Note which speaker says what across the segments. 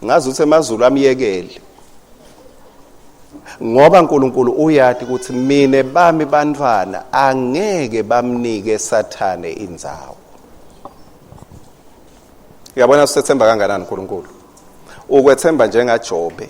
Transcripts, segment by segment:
Speaker 1: ngazi ukuthi emazulu amyekele ngoba uNkulunkulu uyati ukuthi mina bami bantwana angeke bamnike sathane indzawo uyabona usethemba kanganani uNkulunkulu ukwethemba njengaJobe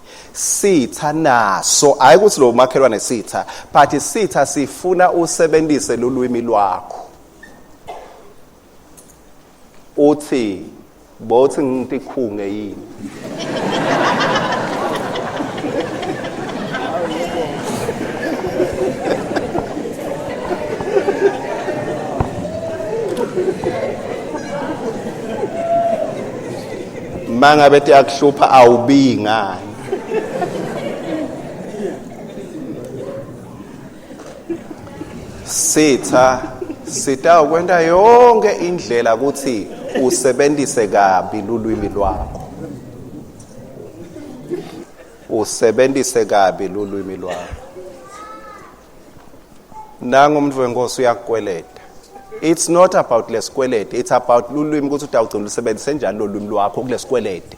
Speaker 1: sitha naso hayi ukuthi lo makhelwane sitha but sitha sifuna usebenzise lolwimi lwakho uthi bothi ngitikhunge yini manga bethi akuhlupha awubi ngani sitha sita ukwenta yonke indlela ukuthi usebenzise kabi lulwimi lwakho usebenzise kabi lulwimi lwakho nangu umuntu wenkosi uyakukweleta it's not about lesikwelede it's about lulwimi ukuthi utawugcina ulusebenzise njani lolwimi lwakho kulesikwelede